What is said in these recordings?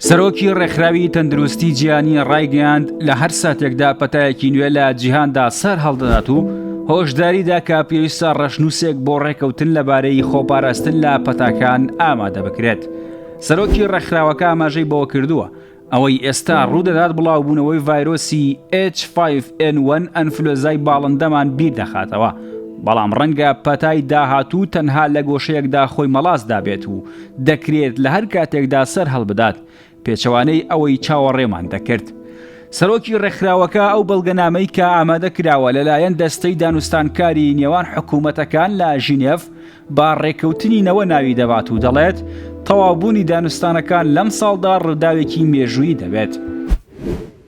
سەرۆکی ڕێکخراوی تەندروستی جیهانی ڕایگەیاند لە هەر ساتێکدا پەتایەکی نوێ لە جیهاندا سەر هەڵدەدات و هۆشداریدا کە پێویستە ڕەشنووسێک بۆ ڕێکەوتن لەبارەی خۆپاراستن لە پەتاکان ئامادە بکرێت. سەرۆکی ڕێکخراوەکە ئاماژەی بەوە کردووە ئەوەی ئێستا ڕوودەدات بڵاوبوونەوەی ڤایرۆسی H5N1 ئەنفلۆزای باڵندەمان بیر دەخاتەوە بەڵام ڕەنگە پەتای داهاتوو تەنها لە گۆشەیەکدا خۆی مەڵاس دابێت و دەکرێت لە هەر کاتێکدا سەرهەڵبدات، پێچەوانەی ئەوەی چاوەڕێمان دەکرد. سەرۆکی ڕێکخراوەکە ئەو بەڵگەنامەی کە ئامادە کراوە لەلایەن دەستەی دانوستانکاری نێوان حکوومەتەکان لە ژینێڤ بە ڕێککەوتنی نەوە ناوی دەبات و دەڵێت تەواوبوونی دانوستانەکان لەمساڵدا ڕووداوێکی مێژوویی دەبێت.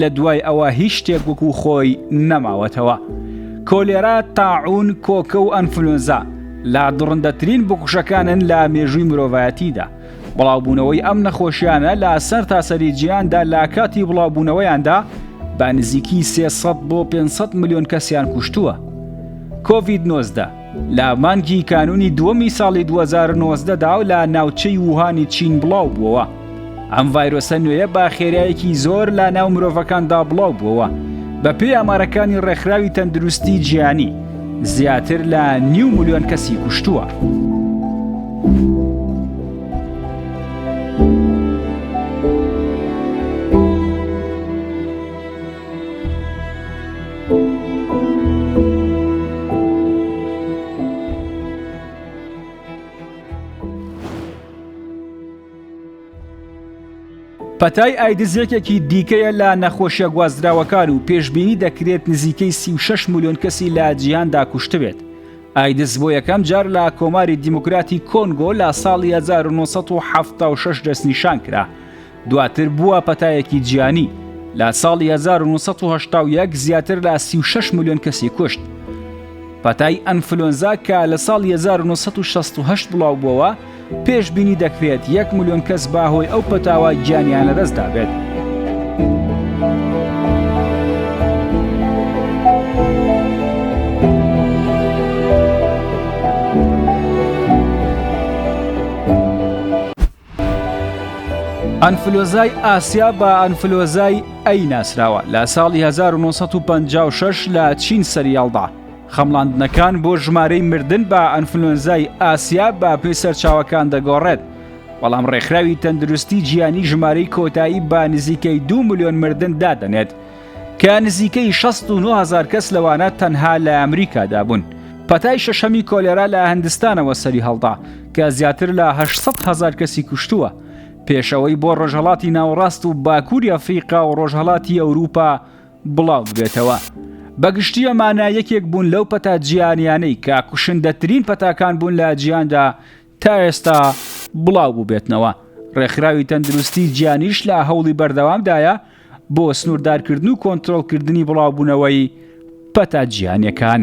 لە دوای ئەوە هیچ شتێک وەکو خۆی نەماوەتەوە. کۆلێرا، تاعوون، کۆکە و ئەنفلۆنزا لە دڕندەترین بکوژەکانن لە مێژووی مرۆڤایەتیدا. بڵاوبوونەوەی ئەم نەخۆشیانە لە سەرتاسەری جیهاندا لە کاتی بڵاوبوونەوەیاندا بە نزیکی سێ سەد بۆ پێنج سەد ملیۆن کەسیان کوشتووە. کۆڤید نۆزدە. لە مانگی کانونی دووەمی ساڵی 2019 دا و لە ناوچەی ووهانی چین بڵاو بووەوە. ئەم ڤایرۆسە نوێیە بە خێرایەکی زۆر لە ناو مرۆڤەکاندا بڵاو بووەوە. بە پێی ئامارەکانی ڕێکخراوی تەندروستی جیهانی، زیاتر لە نیو ملیۆن کەسی کوشتووە. پەتای ئایدز یەکێکی دیکەیە لە نەخۆشیە گوازراوەکان و پێشببینی دەکرێت نزیکەی 36 ملیۆن کەسی لە جیهاندا کوشتبێت. ئایدز بۆ یەکەم جار لە کۆماری دیموکراتی کۆنگۆ لە ساڵی 1976 دەستنیشان کرا. دواتر بووە پەتایەکی جیانی لە ساڵی 1970 زیاتر لە 36 میلیۆن کەسی کوشت پەتای ئەنفلۆنزا کە لە ساڵ 1960 بڵاو بووەوە پێش بینی دەکرێت 1 میلیۆن کەس باهۆی ئەو پەتاوە گیانیان لەدەستدا بێت. ئەنفلۆزای ئاسیا بە ئەنفلۆزای ئەی ناسراوە لە ساڵی 1956 لە چین سەریاڵدا خەمڵاندنەکان بۆ ژمارەی مردن بە ئەنفلۆنزای ئاسیا بە پێی سەرچاوەکان دەگۆڕێت بەڵام ڕێکخراوی تەندروستی جیانی ژمارەی کۆتایی بە نزیکەی دو میلیۆن مردن دادەنێت کە نزیکەی 69 هەزار کەس لەوانە تەنها لە ئەمریکادا بوون. پەتای شەشەمی کۆلێرا لە هندستانەوە سەری هەڵدا کە زیاتر لە 800 هەزار کەسی کوشتووە. پێشەوەی بۆ ڕۆژهەڵاتی ناوەڕاست و باکووری ئەفریقا و ڕۆژهەڵاتی ئەوروپا بڵاو ببێتەوە. بەگشتی ئەمانە یەکێک بوون لەو پەتا جیهانیانەی کە کوشندەترین پەتاکان بوون لە جیهاندا تا ئێستا بڵاو بووبێتنەوە. ڕێکخراوی تەندروستی جیانیش لە هەوڵی بەردەوامدایە بۆ سنووردارکردن و کۆنترۆڵکردنی بڵاوبوونەوەی پەتا جیهانیەکان.